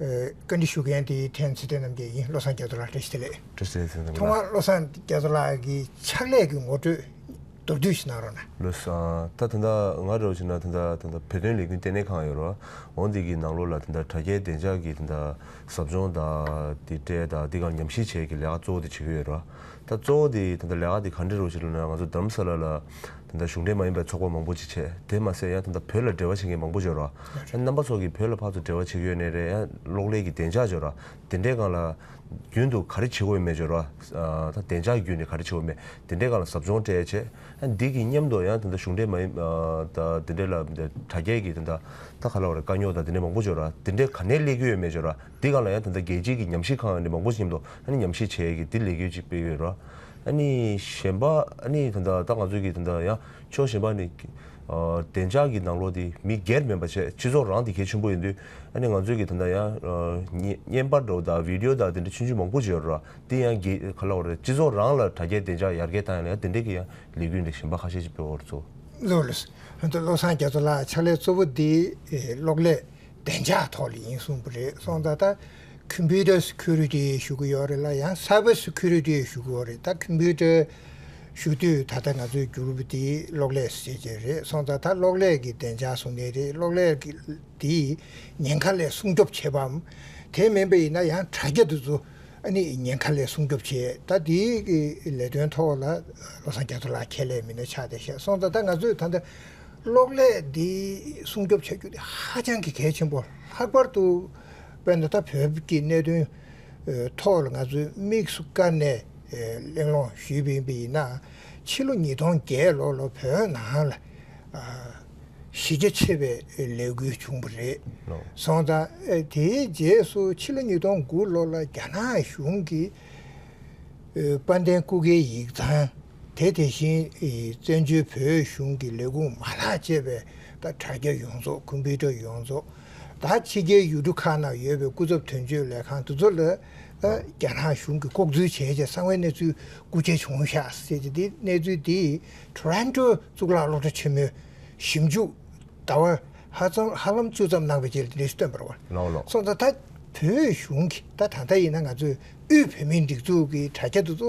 བཀའ་འདྲི་ཞུ་མཁན་དེ་ཐེངས་ཚེ་བརྟན་རྣམ་རྒྱལ་ཡིན་བློ་བཟང་རྒྱ་མཚོ་ལགས་བཀྲ་ཤིས་བདེ་ལེགས། བཀྲ་ཤིས་བདེ་ལེགས་ཐོག་མར་ལགས། བློ་བཟང་རྒྱ་མཚོ་ལགས་ཀྱི་ཕྱག་ལས་ཀྱི་ངོ་སྤྲོད་མདོར་བསྡུས་ཤིག་གནང་རོགས་གནང། བློ་བཟང། ད་དེ་འདྲ་ང་རེད་བ་ཞིག་ན་དེ་འདྲ་དེ་འདྲ་བོད་དོན་ལས་འགུལ་ལྟེ་གནས་ཁང་ཡོད་རེད་བ། འོང་དེ་གི་ནང་ལོགས་ལ་དེ་འདྲ་དྲ་རྒྱའི་བདེ་འཇགས་ཀྱི་དེ་འདྲ་ཟབ་སྦྱོང་དང་དེ་གྲས་དང་དེ་གང་ཉམས་ཞིབ་བྱས་ཀྱི་ལས་ཀ་གཙོ་བོ་དེ་བྱེད་གི་ཡོད་རེད་བ། ད་གཙོ་བོ་དེ་དེ་འདྲ་ལས་ཀ་དེ་ག་འདྲ་རེད་བ་ཞིག་ལ་ན་ང་ཚོ་དར་མ་ས་ལ་ལ་དེ་འདྲ་གཞུང་འབྲེལ་མ་ཡིན་པའི་ཚོགས་པ་མང་པོ་ཅིག་བྱས། དེ་མ་ཟད་ཡང་དེ་འདྲ་བོད་ལ་འབྲེལ་བ་བྱེད་མཁན་མང་པོ་འབྱོར། རྣམ་པ་ཚོགས་ཀྱིས་བོད་ལ་ཕག་ཏུ་འབྲེལ་བ་བྱེད་ཀྱི་ཡོད་ནི་རེད། གློག་ཀླད་ཀྱི་བདེ་འཇགས་འབྱོར། དེ་འདྲའི་སྒང་ལ། རྒྱུན་དུ་ག་རེ་བྱེད་དགོས་ཡོད་མེད་འབྱོར། བདེ་འཇགས་བརྒྱུད་ནས་ག་རེ་བྱེད་དགོས་མེད་དེ་འདྲའི་སྒང་ལ་ཟབ་སྦྱོང་གྲས་བྱས། འདི་གི་མཉམ་དུ་ཡང་དེ་འདྲ་གཞུང་འབྲེལ་མ་ཡིན། དེ་འདྲའི་ལ་དྲ་རྒྱས་ཀྱི་དེ་འདྲ། ད་ག་ལ་བ་རེད་དཀའ་རྙོག་དང་དེ་འདྲའི་མང་པོ་འབྱོར། དེ་འདྲའི་ག་ནས་སླེབས་ཀྱི་ཡོད་མེད་འབྱོར། འདི་སྒང་ལ་ཡང་དེ་འདྲ་རྒྱལ་སྤྱིའི་གྱི་ཉམས་ཞིབ་ཁང་ནས་མང་པོ་ཞིག་མཉམ་དུ་ཉམས་ཞིབ་བྱས་ཀྱི་འདི་ལེགས་ཡོད་ཅིག་སྤེལ་ཡོད། ཨཱ་ནི། གཞན་པ་ཨཱ་ནི་དེ་འདྲ་ད་ང་ཚོས་ཀྱི་དེ་འདྲ་ཡང་ཆོག་གཞན་པ་ནི། བདེ་འཇགས་ཀྱི་ནང་ལོགས་དེ་མི་སྒེར་མིན་པ་བྱས་སྤྱི་ཚོགས་རང་དེ་གལ་ཆེན་པོ་ཡིན་དུས་ཨཱ་ནི་ང་ཚོས་ཀྱི་དེ་འདྲ་ཡང། བརྙན་པར་འདྲ་བོ་དག Video དག་དེ་འདྲ་ཆུང་ཆུང་མང་པོ་བྱས་རོགས་ར་དེ་ཡང་གི་ག་ལ་བ་རེད་སྤྱི་ཚོགས་རང་ལ་དྲ་རྒྱའི་བདེ་འཇགས་ཡར་རྒྱས་བཏང་ཡང་ཡང་དེ་འདྲས་ཀྱི་ཡང་ལས་འགུལ་འདྲ་གཞན་པ་ཁ་ཤས་ཅིག་སྤེལ་བར་ཚོ། བློས། ཧོན་ཏུ་བློ་བཟང་རྒྱ་མཚོ་ལགས་ཕྱག་ལས་གཙོ་བོ་འདི་གློག་ཀླད་བདེ་འཇགས་ཐོག་ལ་ཡིན་གསུངས་པ་རེད་སོང་ད་ལྟ། Computer Security ཞུ་གི་ཡོད་རེད་ལ་ཡང Cyber Security ཞུ་གི་ཡོད་རེད་ད Computer ཞུ་དུས་ད་ལྟ་ང་ཚོའི Group དེ་གློག་ཀླད་སེལ་བྱེད་རེད་སོང་ད་ད་གློག་ཀླད་ཀྱི་བདེ་འཇགས་སྲུང་མཁན་རེད་གློག་ཀླད་དེ་ཉེན་ཁ་ལས་སྲུང་སྐྱོབ་བྱེད་པའམ་དེ་མིན་པ་ཡིན་ན་ཡང་དྲ་རྒྱ་དེ་ཚོ་ཉེན་ཁ་ལས་སྲུང་སྐྱོབ་བྱེད་ད་དེའི་ལས་དོན་ཐོག་ལ་བློ་བཟང་རྒྱ་མཚོ་ལགས་ཁྱེད་ལས་མི་སྣ་ཆགས་ཏེ་བཤད་སོང་ད་ད་ང་ཚོས་ད་ལྟ་གློག་ཀླད་དེ་སྲུང་སྐྱོབ་བྱ་རྒྱུ་དེ་ཧ་ཅང་གི་གལ་ཆེན་པོ་ལྷག་པར་དུ། དཔེར་ན་ད་བོད་ཀྱི་གནད་དོན་ཐོག་ལ་ང་ཚོས་དམིགས་སུ་བཀར་ནས་གླེང་སློང་ཞུས་པའི་དཔེ་ཡིན་ན། ཕྱི་ལོ་ཉིས་སྟོང་བརྒྱད་ལོ་ལ་བོད་ནང་ལ་གཞི་རྒྱ་ཆེ་བའི་ལས་འགུལ་བྱུང་བ་རེད་སོང་ཙང། དེའི་རྗེས་སུ་ཕྱི་ལོ་ཉིས་སྟོང་དགུ་ལོ་ལ་རྒྱ་ནག་གཞུང་གིས་དཔལ་ལྡན་སྐུ་སྒེར་ཡིག་ཚང་དེ་དེ་བཞིན་བཙན་བྱོལ་བོད་གཞུང་གི་ལས་ཁུངས་མ་ལག་ཅེས་པའི་དྲ་རྒྱ་ཡོངས་རྫོགས་ཀུན་ཕི་ཀྲ་ཡོངས་རྫོགས། ད་ཕྱི་རྒྱལ་ཡུལ་གྲུ་ཁག་ནང་ཡོད་པའི་སྐུ་ཚབ་དོན་གཅོད་ལས་ཁང་དེ་ཚོ་ལ་རྒྱ་ནག་གཞུང་གིས་ལྐོག་འཛུལ་བྱས་རྗེས་གསང་བའི་གནས་ཚུལ་དགུ་ཆ་བྱུང་ཤག་ཟེར་གྱི་འདི་གནས་ཚུལ་འདི Toronto གཙུག་ལག་སློབ་གྲྭ་ཆེན་མོའི་ཞིབ་འཇུག་ཟླ་བ་ཧ་ལམ་བཅུ་ཙམ་གནང་བའི་རྗེས་ལས་སྟོན་པར་བར་སོང་ད་ད་བོད་གཞུང་གིས་ད་ད་ལྟ་ཡིན་ན་ང་ཚོས་དབུས་བོད་མིའི་སྒྲིག་འཛུགས་ཀྱི་དྲ་རྒྱ་དེ་ཚོ་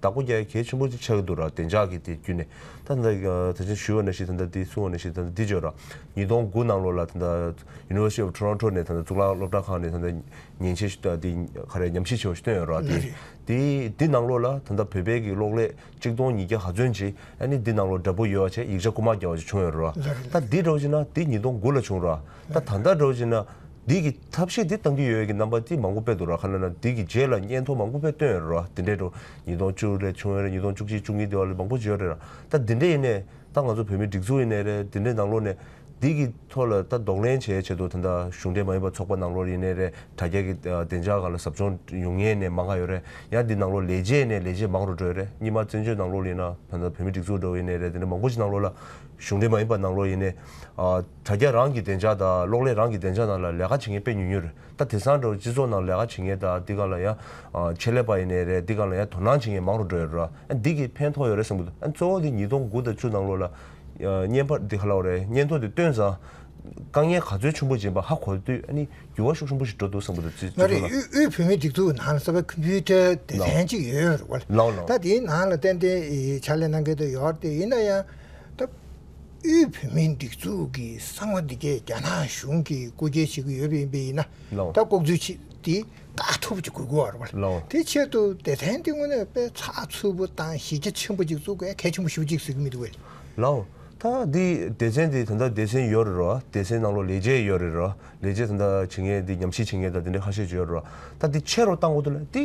བདག་པོ་རྒྱལ་གྱི་ཆེན་པོ་ཅིག་ཆགས་ཀྱི་འདུག་ར་བདེ་འཇགས་ཀྱི་དེ་བརྒྱུད་ནས་ད་ད་ད་ཆ་ཞུ་བ་ན་ཞིག་ད་ད་འདི་གསུང་བ་ན་ཞིག་ད་ད་འདི་བརྗོད་ར། ཉིས་སྟོང་དགུ་ནང་ལོ་ལ་ད་ད University of Toronto ནས་ད་ད་གཙུག་ལག་སློབ་གྲྭ་ཁག་ནས་ད་ད་ཉན་ཆེ་ཞིག་ད་འདི་ག་རེ་ཉམས་ཞིབ་ཆེ་བ་ཞིག་བཏོན་ཡོད་ར་དེ་དེ་འདི་ནང་ལོ་ལ་ད་ད་བོད་པའི་གི་གློག་ཀླད་གཅིག་སྟོང་ཉིས་བརྒྱ་ག་ཚོན་ཅིག་ཨ་ནི་འདི་ནང་ལོ་འདྲ་པོ་ཡོད་བ་ཆེ་ཡིག་ཆ་རྐུ་མ་རྒྱག་བ་ཅིག་བྱུང་ཡོད་ར། ད་འདི་འགྲོ་བྱེད་ན་འདི་ཉིས་སྟོང་དགུ་ལ་བྱུང་ར། ད་ད་ལྟ་འགྲོ་བྱེད་ན་འདི་གི། ཐབས་ཤེས་འདི་གཏང་གི་ཡོད་ཀྱི་རྣམ་པ་དེ་མང་པོ་དཔེ་དུ་རག་ཁ་ན་ན་དེ་ཀྱི་རྗེས་ལ་སྙན་ཐོ་མང་པོ་དཔེ་སྟོན་ཡོད་རེད་བ། དེ་འདྲས་འགྲོ། ཉིས་སྟོང་བཅུ་རེད་ཆུང་ཡོད་རེད་ཉིས་སྟོང་བཅུ་གཅིག་བཅུ་གཉིས་དེ་བ་ལས་མང་པོ་བརྗོད་རེད་ར། ད་དེ་འདྲས་ཡིན་ནས་ད་ང་ཚོ་བོད་མི་སྒྲིག་འཛུགས་ཡིན་ནས་རེད་དེ་འདྲས་ནང་ལོག་ནས། དེ་ཀྱི་ཐོག་ལ་ད་ལྡོག་ལན་བྱས་བྱས་འདུག་ད་ད་གཞུང་འབྲེལ་མ་ཡིན་པ་ཚོགས་པ་ནང་ལོག་ཡིན་ནས་རེད་དྲ་རྒྱ་ཀྱི་བདེ་འཇགས་གང་ལ་ཟབ་སྦྱོང་ཡོང་ངེས་ནས་མང་ག་ཡོད་རེད་ཡང་དེ་ནང་ལོག་ལས་བྱས་ནས་ལས་བྱས་མང་རུ་འགྲོས་རེད་གཉིས་མ་བཙན་བྱོལ་ནང་ལོག་ལ་ཡིན་ན་ད་ད་བོད་མི་སྒྲིག་འཛུགས་འགྲོ་ཡིན་ནས་རེད་དེ་འདྲས་མང་པོ་ཞིག་ནང་ལོག་ལ་གཞུང་འབྲེལ་མ་ཡིན་པ་ནང་ལོག་ཡིན་ནས། དྲ་རྒྱ་རང་གི་བདེ་འཇགས་དང་གློག་ཀླད་རང་གི་བདེ་འཇགས་ནང་ལ་ལས་ཀ་བྱེད་མཁན་དཔེ་ཉུང་ཉུང་རེད་ད་དེ་སང་འགྲོ་བའི་སྤྱི་ཚོགས་ནང་ལས་ཀ་བྱེད་མཁན་དང་འདི་ག་ལ་ཡང་ཆེད་ལས་པ་ཡིན་ནའི་རེད་འདི་ག་ལ་ཡང་དོ་སྣང་བྱེད་མཁན་མང་རུ་འགྲོ་ཡ་རུ་ར་འདི་གིས་ཕན་ཐོག་ཡོད་རེད་བསམ་གི་འདུག་གཙོ་བོ་དེ་ཉིས་སྟོང་དགུ་དང་བཅུ་ནང་ལོ་ལ་བརྙན་ཕར་འདི་ག་ལ་རེད་བརྙན་ཐུང་དེ་སྟོན་ཙང་དཀའ་ངལ་ག་ཚོད་ཆུན་པོ་སྦྱིན་པ་ཧ་གོ་དུས་ནི་འགྱུར་བ་ཤུགས་ཆུན་པོ་ཞིག་འགྲོ་འདུག་བསམ་གི་འདུག་སྤྱི་ཚོགས་ལ། ངའི་དབུས་བོད་མིའི་སྒྲིག་འཛུགས་ནང་ལ་གསར་པའི་ཁུམ་བུའི་ཏྲའི་སྡེ་ཚན་གཅིག་ཡོད་རུ་ར་ལ་ད་དེའི་ནང་ལ་ཏན་ཏན་ཕྱག་ལས་གནང་མཁན་དུ་ཡོད་ར་ཏེ་ཡིན་ན་ཡང་ད། དབུས་བོད་མིའི་སྒྲིག་འཛུགས་ཀྱི་གསང་བ་འདི་གའི་རྒྱ་ནག་གཞུང་གིས་བཀོད་སྐྱེལ་བྱེད་ཀྱི་ཡོད་པའི་ཡིན་པས་ཡིན་ན་ད་ལྐོག་འཛུལ་བྱས་ཏེ་དཀའ་ཐུབ་ཅིག་དགོས་དགོས་བར་བ་དེའི་ཆེད་དུ་སྡེ་ཚན་འདི་དངོས་གནས་དཔེ་ཚགས་འཚུབ་པོ་དང་གཞི་རྒྱ་ཆེན་པོ་ཅིག་བཙུགས་དཀའ་གལ་ཆེན་པོ་ཞུ་ཅིག་ཟེར་གྱི་མི་འདུག་བས། ལའོ། ད་འདི་སྡེ་ཚན་འདི་དོན་དག་སྡེ་ཚན་ཡོད་རེད་རོ། སྡེ་ཚན་ནང་ལོ་ལེགས་བྱས་ཡོད་རེད་རོ། ལས་བྱེད་དེ་འདྲ་བྱེད་མཁན་དེ་ཉམས་ཞིབ་བྱེད་མཁན་དང་དེ་འདྲ་ཁ་ཤས་བརྗོད་རོགས། ད་དེ་ཕྱེ་རོགས་བཏང་གོ་ཐུབ་ན་དེ་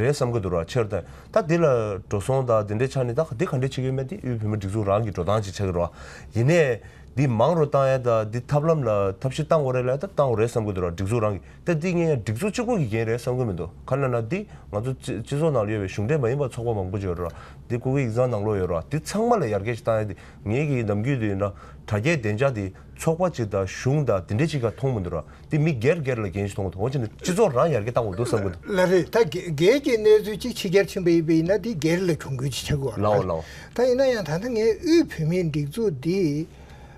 རེད་བསམ་གི་འདུག་རོགས་ཕྱེ་རོགས་བཏང་ད་དེ་ལ་འགྲོ་སོང་དང་དེ་འདྲའི་ཆ་ནས་ད་དེ་ག་འདྲས་བྱེད་ཀྱི་མེད་དེ་དབུས་བོད་མིའི་སྒྲིག་འཛུགས་རང་གིས་འགྲོ་སྟངས་ཅིག་ཆགས་ཀྱི་རོགས། ཡིན་ནས་དེ་མང་རོགས་བཏང་ཡས་དང་དེ་ཐབས་ལམ་ལ་ཐབས་ཤེས་བཏང་གོ་རེད་ལ་ད་བཏང་གོ་རེད་བསམ་གི་འདུག་རོགས་སྒྲིག་འཛུགས་རང་གིས་ད་དེ་ངས་ཡང་སྒྲིག་འཛུགས་གཅིག་པོ་གི་འགན་རེད་བསམ་གི་མི་འདུག་ག་ན་ན་དེ་ང་ཚོ་སྤྱི་ཚོགས་ནང་ལ་ཡོད་པའི་གཞུང་འབྲེལ་མ་ཡིན་པ་ཚོགས་པ་མང་པོ་བརྗོད་རོགས་དེ་སྐུ་སྒེར་ཡིག་ཚང་ནང་ལོག་ཡོད་རོགས་དེ་ཚང་མ་ལ་ཡར་རྒྱས་ཅིག་བཏང་ཡས་དེ་ངེད་ཀྱི་ནམ་རྒྱུན་དེ་འདྲ་དྲ་རྒྱའི་བདེ་འཇགས་དེ། ཚོགས་པ་གཅིག་དང་གཞུང་དང་དེ་འདྲས་གཅིག་ག་མཐོང་མི་འདུག་ར་དེ་མི་སྒེར་སྒེར་ལ་འགན་ཞིག་མཐོང་དགོས་འདུག་འོ་ཅི་འདི་སྤྱི་ཚོགས་རང་ཡར་རྒྱས་བཏང་དགོས་འདུག་བསམ་གི་འདུག། ལ་རེད་ད་སྒེར་གྱི་གནས་ཚུལ་གཅིག་ཕྱི་རྒྱལ་ཕྱིན་པ་ཡིན་པ་ཡིན་ན་དེ་སྒེར་ལ་གྱོང་གུད་ཅིག་ཆགས་དགོས་བ་རེད། ད་ཡིན་ན་ཡང་ད་ལྟ་ངས་དབུས་བོད་མིའི་སྒྲིག་འཛུགས་འདི་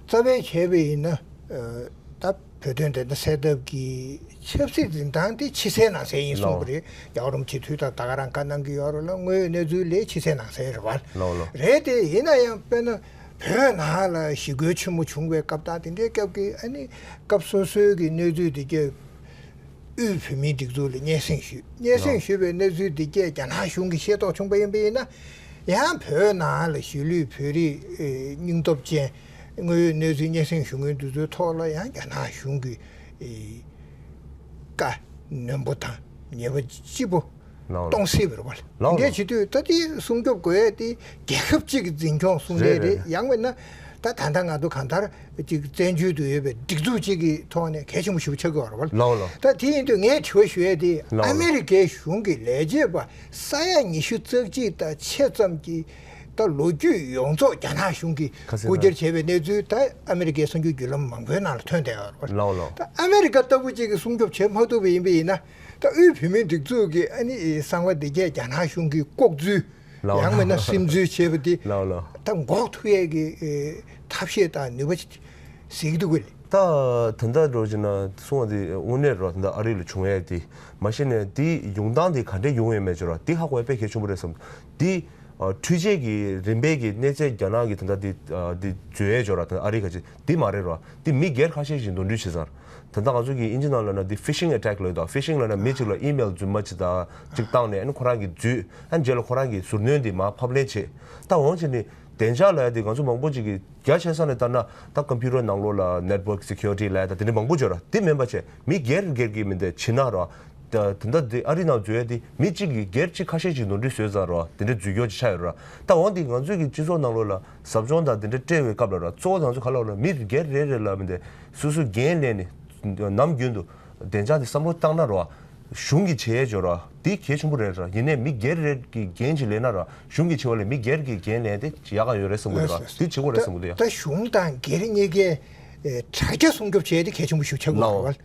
རྩ་བའི་བྱས་པའི་ཡིན་ན་ད་བོད་དོན་བདེན་མཐའ་གསལ་ཐབས་ཀྱི་ཆབ་སྲིད་འཛིན་སྟངས་དེ་ཕྱི་གསལ་ནང་གསལ་ཡིན་གསུངས་པ་རེད་རྒྱག་རུང་སྤྱི་འཐུས་དང་ད་ག་རང་ཀ་གནང་གི་ཡོད་རུང་ལ་དངོས་ཡོད་གནས་ཚུལ་ལས་ཕྱི་གསལ་ནང་གསལ་རེད་བ་རེད་དེ་ཡིན་ན་ཡང་དཔེར་ན། བོད་ནང་ལ་ཞི་རྒོལ་ཆེན་མོ་བྱུང་བའི་སྐབས་དང་དེ་འདྲའི་སྐབས་ཀྱི་ཨ་ནི་སྐབས་སོ་སོའི་གི་གནས་ཚུལ་དེ་རྒྱ་དབུས་བོད་མིའི་སྒྲིག་འཛུགས་ལ་སྙན་གསེང་ཞུས། སྙན་གསེང་ཞུས་པའི་གནས་ཚུལ་དེ་རྒྱས་རྒྱ་ནག་གཞུང་གིས་ཤེས་རྟོགས་བྱུང་པ་ཡིན་པ་ཡིན་ན། ཡང་བོད་ནང་ལ་གཞིས་ལུས་བོད་རིགས་སྙིང་སྟོབས་ཅན་དངོས་ཡོད་གནས་ཚུལ་སྙན་གསེང་ཞུ་མཁན་དེ་ཚོའི་ཐོག་ལ་ཡང་རྒྱ་ནག་གཞུང་གིས་བཀའ་ནན་པོ་དང་ཉེས་པ་ལྕི་པོ་སྟོང་གསལ་བའི་བར་འདི་འདྲའི་བྱེད་དུས་ད་དེ་སྲུང་སྐྱོབ་དགོས་ཡས་དེ་རྒྱལ་ཁབ་ཅིག་གི་འཛིན་སྐྱོང་སྲུང་མཐའི་རེད་ཡང་མེད་ན་ད་ད་ད་ང་ཚོ་གང་ལྟར་ཅིག་བཙན་བྱོལ་དུ་ཡོད་པའི་སྒྲིག་འཛུགས་ཅིག་གི་ཐོག་ནས་གལ་ཆེན་པོ་ཞིག་ཆགས་དགོས་བར་བར་ད་དེ་ཡིན་དུས་ངས་དྲི་བ་ཞུ་ཡས་དེ་ཨ་མི་རི་ཀའི་གཞུང་གི་ལས་བྱེད་པ་ས་ཡ་ཉི་ཤུ་རྩ་གཅིག་ད་ཆེད་ཙམ་གྱི་ད་ལོ་རྒྱུས་ཡོངས་རྫོགས་རྒྱ་ནག་གཞུང་གི་རྐུ་འཁྱེར་བྱས་པའི་གནས་ཚུལ་ད་ཨ་མི་རི་ཀའི་གསང་རྒྱུས་བརྒྱུད་ལམ་མང་པོའི་ནང་ལ་ཐོན་བསྡད་བར་བར་ད་ཨ་མི་རི་ཀ་ལྟ་བུ་ཅིག་གི་སྲུང་སྐྱོབ་བྱེད་མ་ཐུབ་པ་ཡིན་པས་ཡིན་ན་ད་དབུས་བོད་མིའི་སྒྲིག་འཛུགས་ཀྱི་ཨ་ནི་གསང་བ་སྡེ་བརྒྱད་རྒྱ་ནག་གཞུང་གིས་ལྐོག་འཛུལ། ཡང་མིན་ན་སིམ་འཛུལ་བྱས་པ་དེ། ད་འགོག་ཐུབ་ཡས་ཀྱི་ཐབས་ཤེས་དང་ནུས་པ་གཟིགས་འདུག་གི། ད་དེ་འདྲ་འགྲོ་ཅེ་ན་གསུང་བ་དེ་དངོས་གནས་རེད་བ་དེ་འདྲ་ཨ་རི་ལ་བྱུང་ཡས་དེ། མ་གཞི་ནས་དེ་ཡོང་སྟངས་དེ་ག་འདྲས་ཡོང་ཡས་མེད་ཅེ་རོ་དེ་ཧ་གོ་ཡས་དཔེ་གལ་ཆུང་པོ་རེད་བསམ། དེ། འཕྲུལ་ཆས་ཀྱི་རིམ་པས་ཀྱི་གནས་ཚད་རྒྱ་ནག་གི་དེ་འདྲ་དེ་བརྗོད་ཡས་ཅོ་ར་དེ་འདྲ་ཨ་རི་ག་ཅིག་དེ་མ་རེད་རོ་དེ་མི་སྒེར་ཁ་ཤས་ཞིག་འདོན་འགྲུལ་བྱེད་སར། དེ་ལྟར་ང་ཚོ་གིས་དབྱིན་ཇི་ནང་ལོས་ན་འདི Phishing Attack ལོས་དང Phishing ལོས་ན་མི་གཅིག་ལ Email རྫུན་མ་ཅིག་དང་གཅིག་བཏང་ནས་ཨཱ་ཁོ་རང་གིས་བརྫུས་ཨཱ་རྗེས་ལ་ཁོ་རང་གིས་ཟུར་སྣོན་འདི་མ་ཕབ་ལེན་བྱེད་ད་འོང་ཕྱིར་ནི་བདེ་འཇགས་ལ་ཡ་འདི་ང་ཚོ་མང་པོ་ཅིག་གིས་རྒྱ་ཆེ་ས་ནས་ལྟར་ན་ད Computer ནང་ལོགས་ལ Network Security ལས་དང་དེ་འདྲའི་མང་པོ་བརྗོད་ར་དེ་མིན་པ་ཆེ་མི་སྒེར་སྒེར་གྱིས་མི་འདི་ཕྱི་ནང་ར་དེ་ད་འདི་ཨ་རི་ནང་བརྫུས་ཡ་འདི་མི་གཅིག་གིས་སྒེར་གཅིག་ཁ་ཤས་ཀྱིས་ནོར་འཁྲུལ་བཟོས་ཙང་ར་དེ་འདྲའི་བརྫུས་སྐྱོར་ཅིག་ཆགས་ཡོད་ར་ད་འོང་འདི་ང་ཚོས་ཀྱིས་སྤྱི་ཚོགས་ནང་ལོགས་ལ་ཟབ་སྦྱོང་དང་དེ་འདྲ་སྤྲེལ་བའི་སྐབས་ལ་ར་གཙོ་བོ་ལང་ཚོ་ག་ལ་བ་ན་མི་སྒེར་རེ་རེ་ལ་མི་འདི་སུ་སུ་འགན་ལེན་ནི། ནམ་རྒྱུན་དུ། བདེ་འཇགས་འདི་བསམ་བློ་བཏང་ན་ར། གཞུང་གི་བྱེད་འབྱོར་ར་འདི་གལ་ཆེན་པོ་རེད་ར་ཡིན་ནས་མི་སྒེར་རེ་གི་འགན་ཅིག་ལེན་ན་ར་གཞུང་གི་བྱེད་པ་ལས་མི་སྒེར་གི་འགན་ལེན་དེ་ཡག་ག་ཡོད་རེད་བསམ་གི་འདུག་ར་འདི་བྱེད་དགོས་རེད་བསམ་གི་འདུག་ཡ། ད་གཞུང་དང་སྒེར་གཉིས་ཀའི་དྲ་རྒྱ་སྲུང་སྐྱོབ་བྱེད་དེ་གལ་ཆེན་པོ་ཞུ་ཆ་གི་རེད།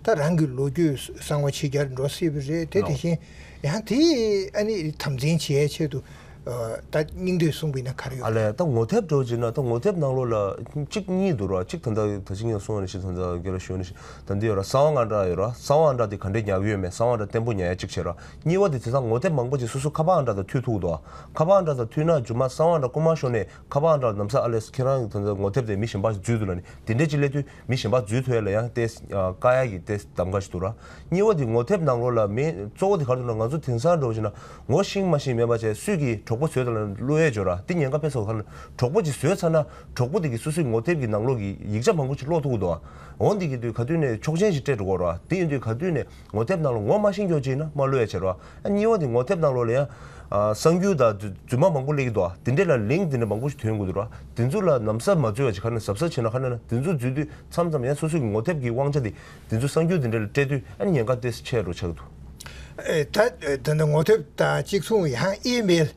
ད་རང་གི་ལོ་རྒྱུས་གསང་བ་ཕྱི་རྒྱར་འགྲོ་སྲིད་པ་རེད་དེ་དེ་བཞིན་ཡང་དེ་ཨ་ནི་དམ་འཛིན་བྱེད་ཆེད་དུ་ད་སྙིང་འདོད་གསུངས་པའི་ན་ག་རེ་ཡོད་ཨ་ལས་ད་ངོ་དེབ་འགྲོ་ཅེ་ན་ད་ངོ་དེབ་ནང་ལོ་ལ་གཅིག་གཉིས་འདུག་ར་གཅིག་ད་ལྟ་ད་ཅིག་ཉིན་སོང་ནི་ཞིག་ད་ད་གེ་ར་ཞོན་ནི་ཞིག་ད་འདི་ཡོད་ར་གསང་བ་ང་འདྲ་ཡོད་ར་གསང་བ་ཨ་འདྲ་དེ་ག་འདྲའི་ཉག་གི་ཡོད་མེད་གསང་བ་འདྲ་བརྟན་པོ་ཉག་ཡ་གཅིག་བྱེད་ར་གཉིས་བ་དེ་དེ་སང་ངོ་དེབ་མང་པོ་ཅིག་སོ་སོ་ཁ་པ་ཨ་འདྲ་ད་ཐུག་ཐུག་འདུག་ཨ་ཁ་པ་ཨ་འདྲ་ད་ཐུག་ན་རྒྱུ་མ་གསང་བ་འདྲ་རྐུ་མ་ཤོར་ནས་ཁ་པ་ཨ་འདྲ་ལ་ནམ་ས་ཨ་ལས་ཁྱེད་རང་གི་ད་ངོ་དེབ་དེ་མི་གཞན་པ་ཞིག་འཛུལ་འདུག་ལ་ནི་དེ་འདྲས་ཅིག་སླེབས་དུས། མི་གཞན་པ་རྫུས་ཐོད་ལ་ཡང་ཏེས་དཀར་ཡག་གི་ཏེས་དམ་ག་ཞིག་འདུག་ར། སྙི་བ་དེ་ངོ་ཐེབས་ནང་ལོགས་ལ་མེད་གཙོ་བོ་དེ་གར་འདུག་ན་ང་ཚོ་དེང་སང་འགྲོ་བཞིན་ན་ངོ་ཤིང་མ་ཤིང་མེད་པ་ཅན་སུས་ཀྱིས་གྲོགས་པོ་ཟོས་དང་བླུ་ཡས་འཇོ་ར་དེ་ཉེན་ཁ་ཕེབས་ས་ཁར་གྲོགས་པོ་ཅིག་ཟོས་ཚར་ན་གྲོགས་པོ་དེ་གིས་སུ་སུའི་ངོ་ཐེབས་ཀྱི་ནང་ལོགས་ཀྱི་ཡིག་ཆ་མང་པོ་ཅིག་ཀློག་ཐུག་གོ་འདུག་ཨ་འོ་འདི་གི་དུས་ག་དུས་ནས་ཆོག་ཆེན་ཞིག་སྤྲད་འགྲོ་གོ་ར་དེ་ཡིན་དུས་ག་དུས་ནས་ངོ་དེབ་ནང་ལོ་ངོ་མ་ཤིང་སྐྱོགས་ཅིག་ན་རྨ་ལོས་ཡ་ཆེར་བ། གཉིས་བ་དེ་ངོ་དེབ་ནང་ལོ་ལ་ཡང། གསང་རྒྱུད་དང་རྫུན་མ་མང་པོ་གླེགས་འདུག་དེ་འདྲས་ལ་ལིང་དེ་འདྲས་མང་པོ་ཞིག་དོན་དགོས་འདུག་དེ་ཚོ་ལ་ནམ་ཟབ་མ་འཛུལ་བ་ཞིག་ཁ་ནས་ཟབ་ས་བྱས་ན་ཁ་ནས་ན་དེ་ཚོ་འཛུལ་དུས་མཚམས་མཚམས་ཡང་སོ་སོ་གི་ངོ་དེབ་ཀྱི་དབང་ཆ་དེ་དེ་ཚོ་གསང་རྒྱུད་དེ་འདྲས་ལ་སྤྲད་དུས་ཨ་ནི་ཉེན་ཁ་དེ་ཆེ་རུ་ཆགས་འདུག། ད་ད་ནི་ངོ་དེབ་དང་གཅིག་མཚུངས་ཡང་ཨི་མེལ།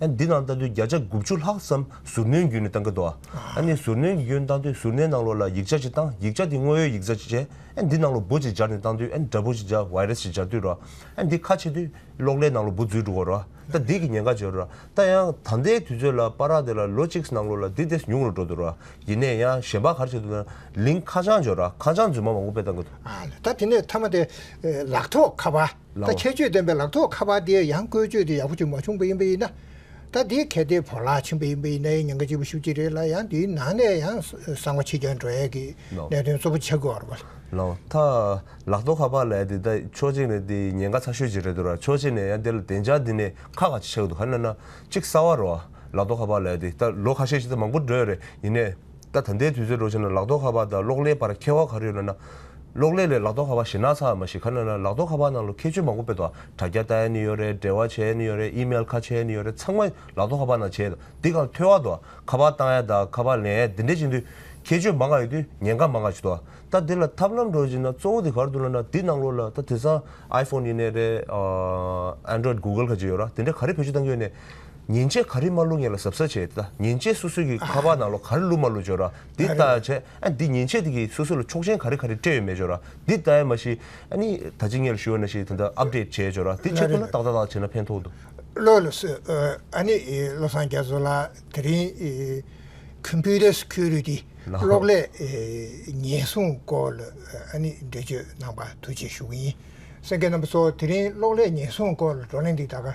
འདི་ནང་ལྟ་དུས་བརྒྱ་ཆ་དགུ་བཅུ་ལྷག་ཙམ་ཟུར་སྣོན་བརྒྱུད་ནས་བཏང་གི་འདུག་ཟུར་སྣོན་གྱི་བརྒྱུད་ནས་བཏང་དུས་ཟུར་སྣོན་ནང་ལོགས་ལ་ཡིག་ཆ་ཞིག་བཏང་ཡིག་ཆ་དེ་དངོས་ཡོད་ཡིག་ཚགས་ཤིག་བྱས་འདི་ནང་ལོགས་འབུ་ཅིག་སྦྱར་ནས་བཏང་དུས་འདྲ་འབུ་ཞིག་སྦྱར Virus ཞིག་སྦྱར་དུས་རོ། འདི་ཁ་ཕྱེ་དུས་གློག་ཀླད་ནང་ལོགས་འབུ་རྫུས་འགྲོ་གོ་རོ། ད་འདི་གི་ཉེན་ཁ་བརྗོད་རོ། ད་ཡང་ད་ལྟའི་དུས་ཚོད་ལ་པར་རག་དེ་ལ་ལོ་གཅིག་ནང་ལོགས་ལ་འདི་དེ་ཉུང་རུ་འགྲོ་འདུག་རོ། ཡིན་ནས་ཡང་གཞན་པ་གར་བྱེད་དུ་ན་ལིང་ཁ་བྱང་བརྗོད་རོ་ཁ་བྱང་རྫུན་མ་མང་པོ་སྤེལ་བཏང་གི་འདུག། ལ་ད་དེ་ནས་མཐའ་མ་དེ་ལག་ཐོགས་ཁ་པར། ད་ཁྱད་ཆོས་ལྡན་པའི་ལག་ཐོགས་ཁ་པར་འདི་ཡང་བཀོལ་སྤྱོད་དེ་ཡག་པོ་ཅིག་མ་བྱུང་པ་ཡིན་པ་ཡིན་ན། ད་འདི་གལ་ཏེ་བོར་བརླག་ཕྱིན་པ་ཡིན་པ་ཡིན་ན་ཡང་ཉེན་ཁ་ལྕི་པོ་ཤུགས་ཆེ་རེད་ལ་ཡང་འདིའི་ནང་ནས་ཡང་གསང་བ་ཕྱི་རྒྱལ་འགྲོ་ཡས་ཀྱི་གནད་དོན་གཙོ་བོ་ཆགས་དགོས་བར་བ། ལག་ཐག་ལག་ཐོགས་ཁ་པར་ལ་ཡང་འདི་ལྟ་ཕྱོགས་གཅིག་ནས་འདི་ཉེན་ཁ་ཚ་ཤོས་ཅིག་རེད་འདུག་ར་ཕྱོགས་གཅིག་ནས་ཡང་འདི་ལ་བདེ་འཇགས་འདི་ནས་ཁག་ག་ཅིག་ཆགས་ཀྱི་འདུག་ག་ན་ན་གཅིག་གསར་བ་རོ། ལག་ཐོགས་ཁ་པར་ལ་ཡང་འདི་ལྟ་ལོ་ཁ་ཤས་ཤིག་ད་མང་པོ་འགྲོ་ཡས་རེད་ཡིན་ནས། ད་ད་ལྟའི་དུས་ཚོད་འགྲོ་ཕྱིན་ན་ལག་རྡོ་ཁ་བ་དང་གློག་ཀླད་བར་ཁྱད་བ་ག་རེ་ཡོད་ན། གློག་ཀླད་ལས་ལག་རྡོ་ཁ་བ་ཞེ་ན་ཚ་བ་མ་ཤེས་ག་ནོད་ན་ལག་རྡོ་ཁ་བ་ནང་ལོ་ཁྱད་ཆོས་མང་པོ་སྤེལ་ཏོ། དྲ་རྒྱ་ལྟ་ཡ་ནི་ཡོད་རེད་འབྲེལ་བ་བྱས་ཡ་ནི་ཡོད་རེད་ཨིམེལ་ཁ་ཕྱེ་ཡ་ནི་ཡོད་རེད་ཚང་མ་ལག་རྡོ་ཁ་བ་ནང་བྱས་ཡོད་དོ་འདི་གང་ཐོས་ཨ་དོ། ཁ་བ་བཏང་ཡ་དང་ཁ་བ་ལེན་ཡ་འདི་འདྲས་བྱེད་དུས་ཁྱད་ཆོས་མང་ག་ཡོད་དུས་ཉེན་ཁ་མང་ག་བྱེད་དོ། ད་འདི་ལ་ཐབས་ལམ་འགྲོ་ཕྱིན་ན་གཙོ་བོ་དེ་གར་དུ་ལ་ན་འདི་ནང་ལོ་ལ་ད་དེ་སང iPhone ཡིན་ནས་རེད། Android Google ག་ཅིག་ཡོད་ར་དེ་འདྲས་ག་རེ་བེད་སྤྱོད་བཏང་གི་ཡོད་ནས། ཉིན་བྱེད་ག་རི་མ་བླུགས་ངེད་ལ་ཟབ་ས་བྱེད་ད་ཉིན་བྱེད་སུ་སུ་གི་ཁ་པར་ནང་ལོ་ག་རི་བླུགས་མ་བླུགས་བརྗོད་ར་འདི་ལྟ་བྱས་ཨ་འདི་ཉིན་བྱེད་དེ་གི་སུ་སུ་ལ་ཆོག་མཆན་ག་རི་ག་རི་སྤྲད་ཡོད་མེད་བརྗོད་ར་འདི་ལྟ་ཡ་མ་ཤི་ཨ་ནི་ད་ཅི་ངེད་ལ་ཞུ་བ་ན་ཤི་དེ་འདྲ update བྱས་བརྗོད་ར་དེ་ཆེད་དུ་ན་ཏག་ཏག་ཏག་བྱས་ན་ཕན་ཐོག་འདུག། བློ་ལ་བསོད་ཨ་ནི་བློ་བཟང་རྒྱ་མཚོ་ལགས་དེ་རིང་ཁུན་པུའུ་ཏར་སུ་ཁུལ་རུ་ཏི་གློག་ཀླད་ཉེན་སྲུང་སྐོར་ལ་ཨ་ནི་འགྲེལ་བརྗོད་གནང་པ་ཐུགས་རྗེ་ཞུ་གི་ཡིན་སེང་གེ་རྣམ་པ་ཚོ་དེ་རིང་གློག་ཀླད་ཉེན་སྲུང་སྐོར་ལ་བགྲོ་གླེང་འདི་ད་ག